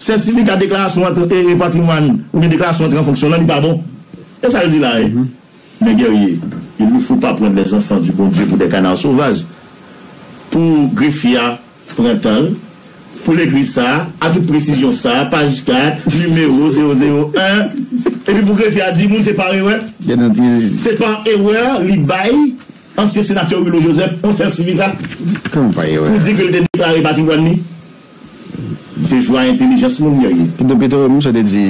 Sètifika deklarasyon antre e e patrimwàn oubyen deklarasyon antre an fonksyon lan li pa bon? E sa l di la e? Mè Guerrier, il ne faut pas prendre les enfants du bon Dieu pour des canards sauvages pou grefye a pran tan l pou l ekri sa a tout presizyon sa a paj 4 nimewo 001 epi pou grefye a di moun se par erè se par erè li bay ansyen senatè Willo Joseph on sètifika pou di ke l te deklare patrimwàn li. Se jou a entelijans moun yo ye. Pito pito ou misye te di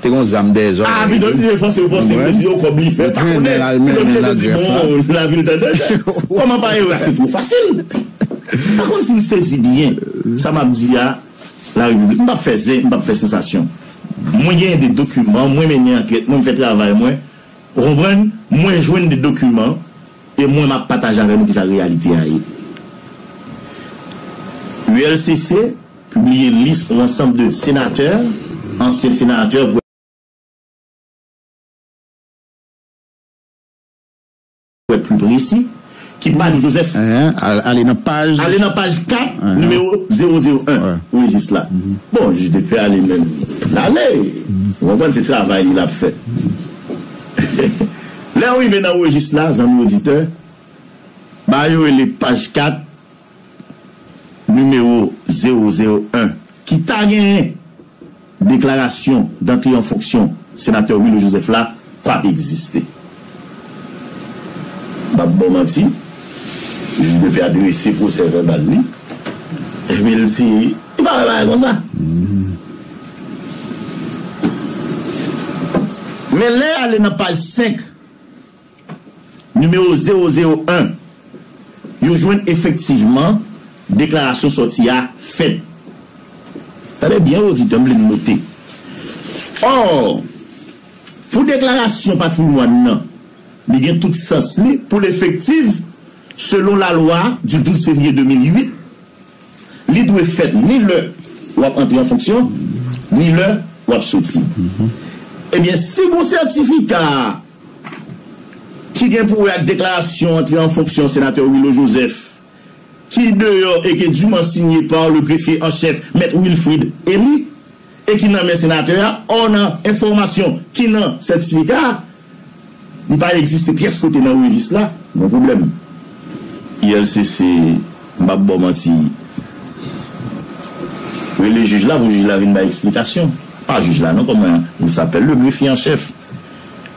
te gon zam dèyè zòrèy li. Ah pito misye te fòse fòse mesye yo kòb li fè pa konnen pito misye te di bon lavi l te dèyè kòman pa ere a se two fasil m pa konn si n sezi byen sa m ap di a la repiblik m p ap fè zen m p ap fè sansasyon mwen genyen de dokiman mwen mennen ankèt mwen m fè travay mwen ou konprann mwen jwenn de dokiman. E mwen map pataje avè nou kisa reyalite a ye. ULCC pibliye lis on ansanb de senatè, ansyen senatè, pou èt pli presi, ki pa di Joseph. Ale nan paj. Ale nan paj 4, nimewo 001, rejis la. Bon, jij de pè ale menm. Lale! Ou konprann se travay li lap fè. Lè yo rive nan rejis la, zanmi oditè, bagay yo rele paj 4, nimewo 001, ki ta genyen deklarasyon dantre an fonksyon Senatè Willy Joseph la, pa p egziste. M pa p ba w manti, jij Depè a drese pwosè vèbal li, epi l di. Ou pa wè bagay konsa. Men lè y ale nan paj 5, nimewo zewo zewo en, yo jwenn efektivman deklarasyon sòti a fèt. Tande byen wi oditè, m vle n note. Or, pou deklarasyon patrimwàn nan, li gen tout sans li pou l efektiv selon lalwa du 12 fevriye 2008, Li dwe fèt ni lè w ap antre an fonksyon, ni lè w ap soti. Ebyen, si gen yon sètifika ki gen pou wè ak deklarasyon antre an fonksyon Senatè Willo Joseph ki deyò e ke diman sinye pa le Grefye an Chèf Mèt Wilfrid Elie e ki nan men Senatè a, ò nan enfòmasyon ki nan sètifika a, Li pa egziste pyès kote nan revis la, gon pwoblèm. ULCC, M pap ba w manti. Rele jij la pou jij la vin bay eksplikasyon. Pa jij la non, kòman il sapèl, le grefye an chèf,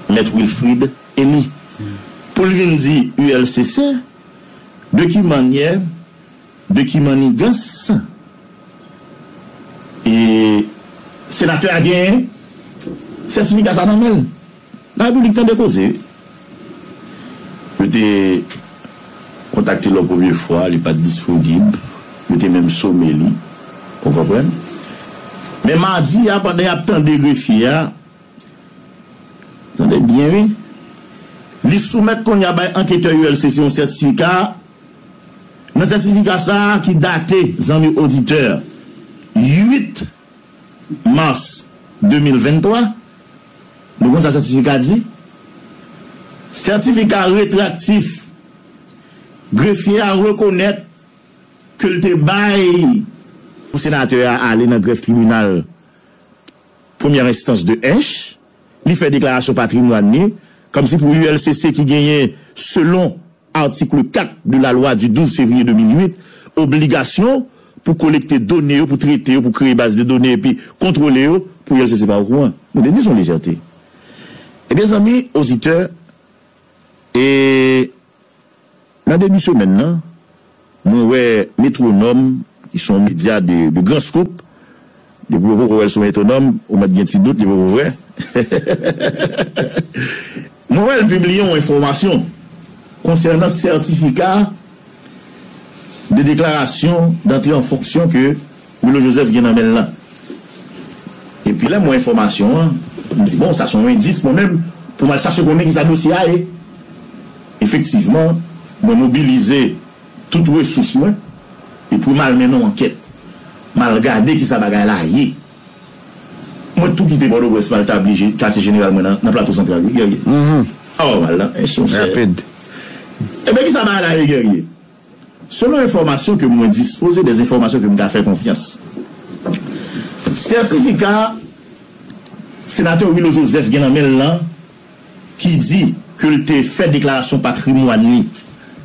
Mèt Wilfrid Elie. Pou l vin di ULCC, de ki mannyè. Beky Manigans e senatè a gen sètifika sa nan menl la repiblik tande koze wi yo te kontakte l yon premye fwa li pat disponib yo te menm some li ou konprann men madi a pandan yap tande grefye a tande byen wi li soumèt kounye a bay anketè ulcc yon sètifika. Nan sètifika sa a ki date, zanmi oditè, 8 mas 2023, nou konn sa sètifika di? Sètifika retraktif, grefye a rekonèt ke l te bay. Pou senatè a ale nan grèf tribinal premyè enstans de Ench, li fè deklarasyon patrimwàn li, kòmsi pou ULCC ki genyen selon Article 4 de la loi du 12 février 2008, obligasyon pou kolekte done yo, pou trete yo, pou kreye baz de done epi kontwole yo, pou yèl se se pa okouran. Nou te di se yon lejète. Ebyen zanmi oditè, e nan debi semèn nan, Mwen wè Metronome ki son medya de gran scoop depi ou poko wèl sou Metonome ou mèt gen ti dout li poko vrè Mwen wèl pibliye yon enfòmasyon konsènan sètifika de deklarasyon dantre an fonksyon ke Willo Joseph gen nan menl lan. Epi lèm wè enfòmasyon an, m di bon sa son endis mwen menm pou mal chache konnen kisa dosye a ye. Efektivman mwen mobilize tout resous mwen epwi mal mennen yon ankèt. Mal gade kisa bagay la ye. Mwen tou kite Pòtoprens mal tabli katye jeneral mwen nan Plato Santral wi Guerrier. Aww mal lan ench monchè. Ebyen kisa bagay la ye Guerrier? Selon enfòmasyon ke mwen dispoze, des enfòmasyon ke m ka fè konfyans, sètifika Senatè Willo Joseph gen nan men l lan ki di ke l te fè deklarasyon patrimwàn li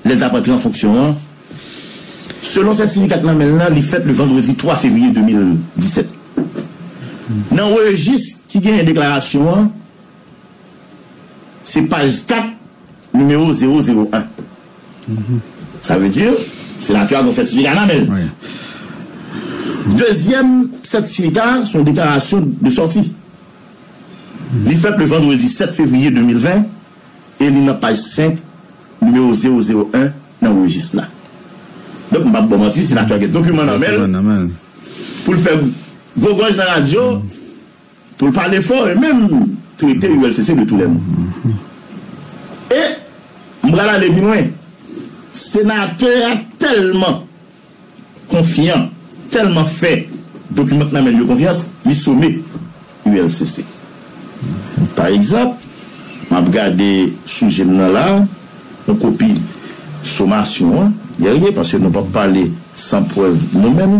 lè l t ap antre an fonksyon an, selon sètifika k nan men l lan, li fèt le vandredi 3 fevriye 2017. Nan rejis ki genyen deklarasyon an, Se paj 4, nimewo zewo zewo an. Sa vle di, senatè a gen yon sètifika nan men l. Dezyèm sètifika a, se yon deklarasyon de sòti. Li fèt le vandredi 7 fevriye 2020 e li nan paj 5, nimewo zewo zewo en nan rejis la. Donk, m p ap ba w manti, senatè a gen dokiman nan men l pou l fè gwo gòj nan radyo. Pou l pale fò e menm trete ULCC de toulède. E, m pral ale pi lwen, senatè a tèlman konfyan, tèlman fè dokiman k nan men l yo konfyans, li some ULCC. Pa egzanp, m ap gade sou je m nan la a, yon kopi somasyon an, Guerrier, paske nou p ap pale san prèv nou menm.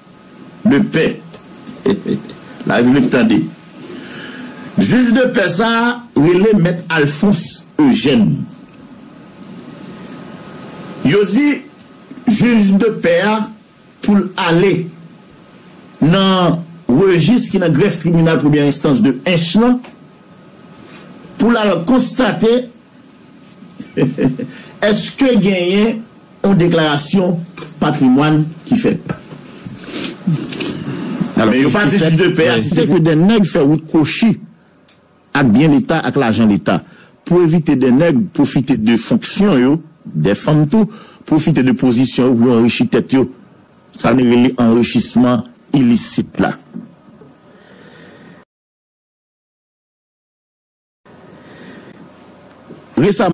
de pè la Repiblik tande. Jij de pè sa a rele mèt Alphonse Eugène. Yo di jij de pè a pou l ale nan rejis ki nan grèf tribinal premyè enstans de Ench lan pou l al konstate èske genyen On deklarasyon patrimwàn ki fèt. Men yo pa di fis de pè a si se ke de nèg fè wout kwochi ak byen leta ak lajan leta pou evite de nèg pwofite de fonksyon yo, de fanm tou, pwofite de pozisyon yo pou yo anrichi tèt yo. Sa nou rele anrichisman ilisit la. Resaman.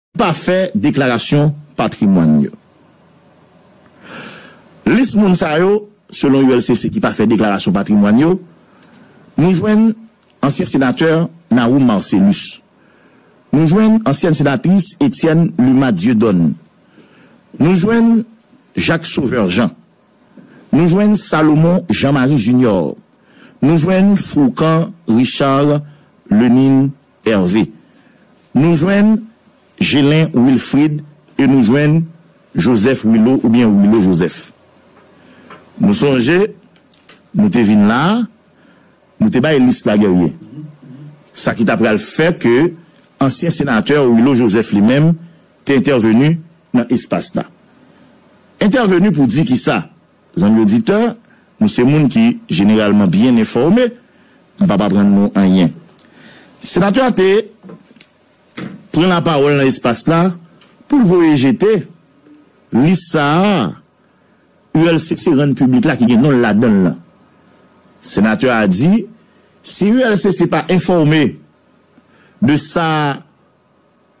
Pa fè deklarasyon patrimwàn yo. Lis moun sa yo, selon ULCC ki pa fè deklarasyon patrimwàn yo, nou jwenn ansyen senatè Nahoum Marcellus, nou jwenn ansyèn senatris Etienne Luma Dieudonne, nou jwenn Jacques Sauveur Jean, nou jwenn Salomon Jean Marie Junior, nou jwenn Fourcand Richard Lenin Hervé. Nou jwenn Gelin Wilfrid e nou jwenn Joseph Wilo oubyen Wilo Joseph. Nou sonje nou te vin la a, nou te bay lis la Guerrier. Sa ki ta pral fè ke ansyen senatè Wilo Joseph li menm te entèveni nan espas la. Entèveni pou di kisa? Zanmi oditè, nou se moun ki jeneralman byen enfòme, m p ap aprann nou anyen. Senatè a te pran lapawòl nan espas la pou l voye jete lis sa a ULCC rann piblik la ki gen non l ladan l lan. Senatè a di si ULCC pa enfòme de sa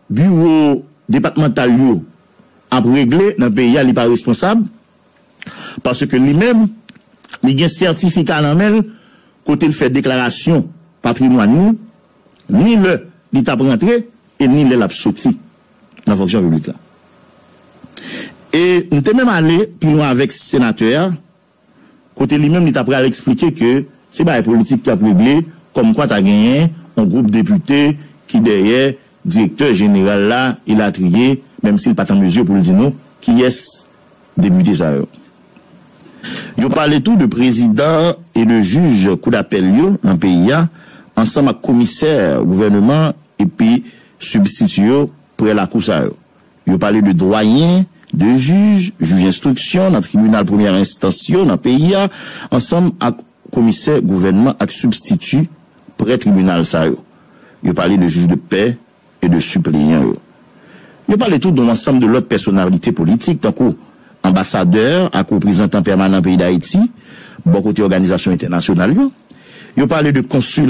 Biwo depatmantal yo ap regle nan peyi a li pa responsab paske li menm li gen sètifika nan men l kote l fè deklarasyon patrimwàn li ni lè li t ap rantre e ni lè l ap soti nan fonksyon piblik la e m te menm ale pi lwen avèk senatè a kote li menm li ta pral eksplike ke se bagay politik ki ap regle kòmkwa ta genyen yon gwoup depite ki dèyè direktè jeneral la elatriye, menm si l pa t an mezi pou l di nou kiyès depite sa yo. Yo pale tou de prezidan e de jij kou dapèl yo nan peyi a ansanm ak komisè gouvèneman epi sibstiti yo pre lakou sa yo. Yo pale de dwayen, de jij, jij enstriksyon nan tribinal premyè enstans yo nan peyi a, ansanm ak komisè gouvènman ak sibstiti prè tribinal sa yo. Yo pale de jij de pè e de sipleyan yo. Yo pale tou don ansanm de lòt pèsonalite politik tankou anbasadè ak reprezantan pèmanan peyi Dayiti bò kote òganizasyon entènasyonal yo. Yo pale de konsil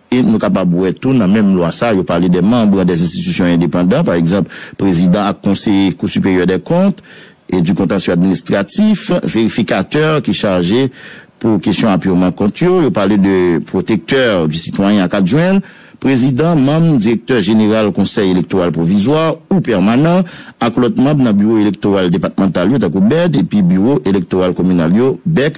E nou kapab wè tou nan menm lwa sa, yo pale de manbre des institutions indépendants, pa egzanp, prezidan ak konseye Cour supérieure des comptes et du contentieux administratif, verifikatè ki chaje pou kesyon apurman kont yo, yo pale de protecteur du citoyen ak adjwen l, prezidan, manm, direktè jeneral konsèy elektoral pwovizwa ou pèmanan, ak lòt manb nan biwo elektoral depatmantal yo tankou, bed, epi biwo elektoral kominal yo, bek.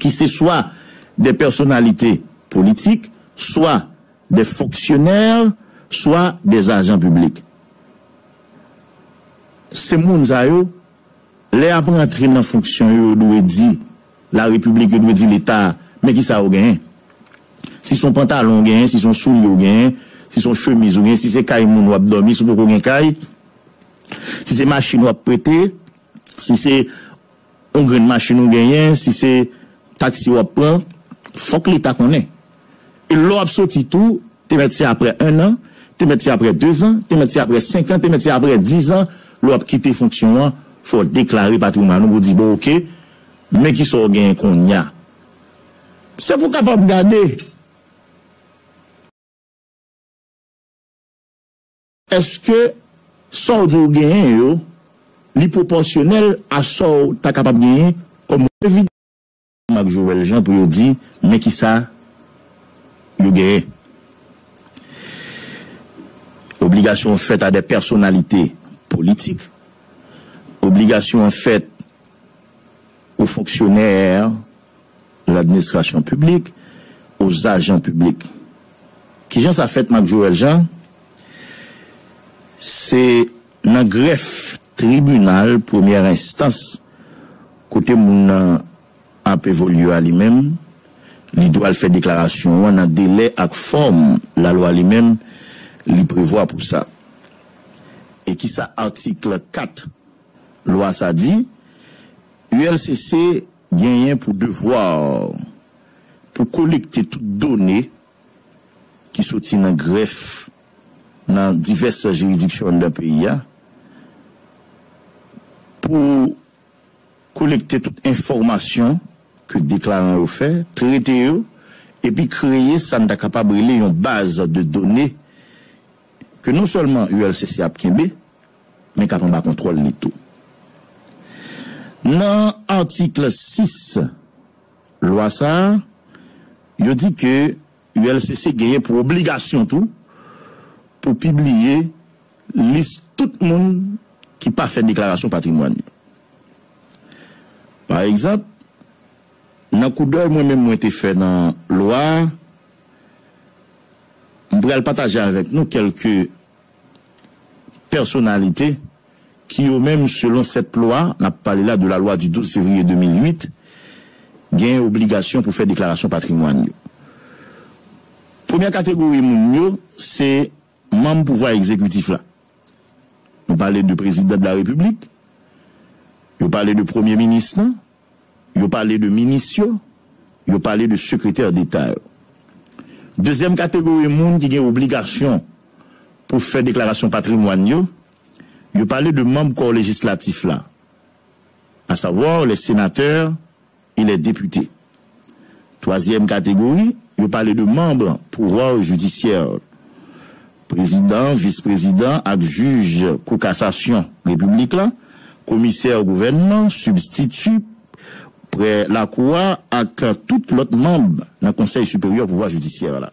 ki se swa de pèsonalite politik, swa de fonksyonè, swa de ajan piblik. Se moun sa yo, lè y ap rantre nan fonksyon yo, yo dwe di Larepiblik, yo dwe di Leta, men ki sa ou genyen. Si se yon pantalon ou genyen, si se yon soulye ou genyen, si se yon chemiz ou genyen, si se kay moun w ap dòmi, si w poko gen kay, si se machin w ap prete, si se. On grenn machin ou genyen, si se taksi w ap pran, fòk leta konnen. E lè w ap soti tou, te mèt se aprè ennan, te mèt se aprè dezan, te mèt se aprè senkan, te mèt se aprè dizan, lè w ap kite fonksyon an, fò w deklare patrimwàn ou pou di bon oke, men ki sa w genyen konnya. Se pou w kapab gade. Eske sa w di w genyen yo, li pwopòsyonèl a sa w ta kapab genyen kòm revni? Ansanm ak Joel Jean pou yo di men ki sa yo genyen. Obligasyon an fèt a dè pèsonalite politik. Obligasyon an fèt o fonksyonè. L'administration publique aux agents publics Kijan sa fèt Marc Joël Jean? Se nan grèf tribinal premyè enstans kote moun nan ap evolye a li menm, li dwe al fè deklarasyon an nan delè ak fòm lalwa li menm li prevwa pou sa. E kisa atik 4 lwa sa di? ULCC. Genyen pou devwa pou kolekte tout done ki soti nan grèf nan divès jiridiksyon nan peyi a, pou kolekte tout enfòmasyon ke deklaran yo fè, trete yo, epi kreye sa n ta kapab rele yon baz de done ke non sèlman ULCC ap kenbe, men k ap anba kontwòl li tou. Nan atik 6 lwa sa a, yo di ke ULCC genyen pou obligasyon tou pou pibliye lis tout moun ki pa fè deklarasyon patrimwàn yo. Pa egzanp, nan koudèy mwen menm mwen te fè nan lwa a, m pral pataje avèk nou kèlke. pèsonalite ki yo menm selon 7 lwa, n ap pale la de la lwa du 12 fevriye 2008, genyen obligasyon pou fè deklarasyon patrimwàn yo. Premyè kategori moun yo se manm pouvwa egzekitif la. Nou pale de prezidan de la repiblik, yo pale de premye minis lan, Yo pale de minis yo, yo pale de sekretè deta yo. Dezyèm kategori moun ki gen obligasyon pou fè deklarasyon patrimwàn yo, yo pale de manb kò lejislatif la, à savoir les sénateurs et les députés. Twazyèm kategori, yo pale de manb pouvwa jidisyè, prezidan, vis prezidan ak jij kou kasasyon repiblik la, komisè gouvènman, sibstiti pre lakou a ak tout lòt manb nan konsèy siperyè pouvwa jidisyè la.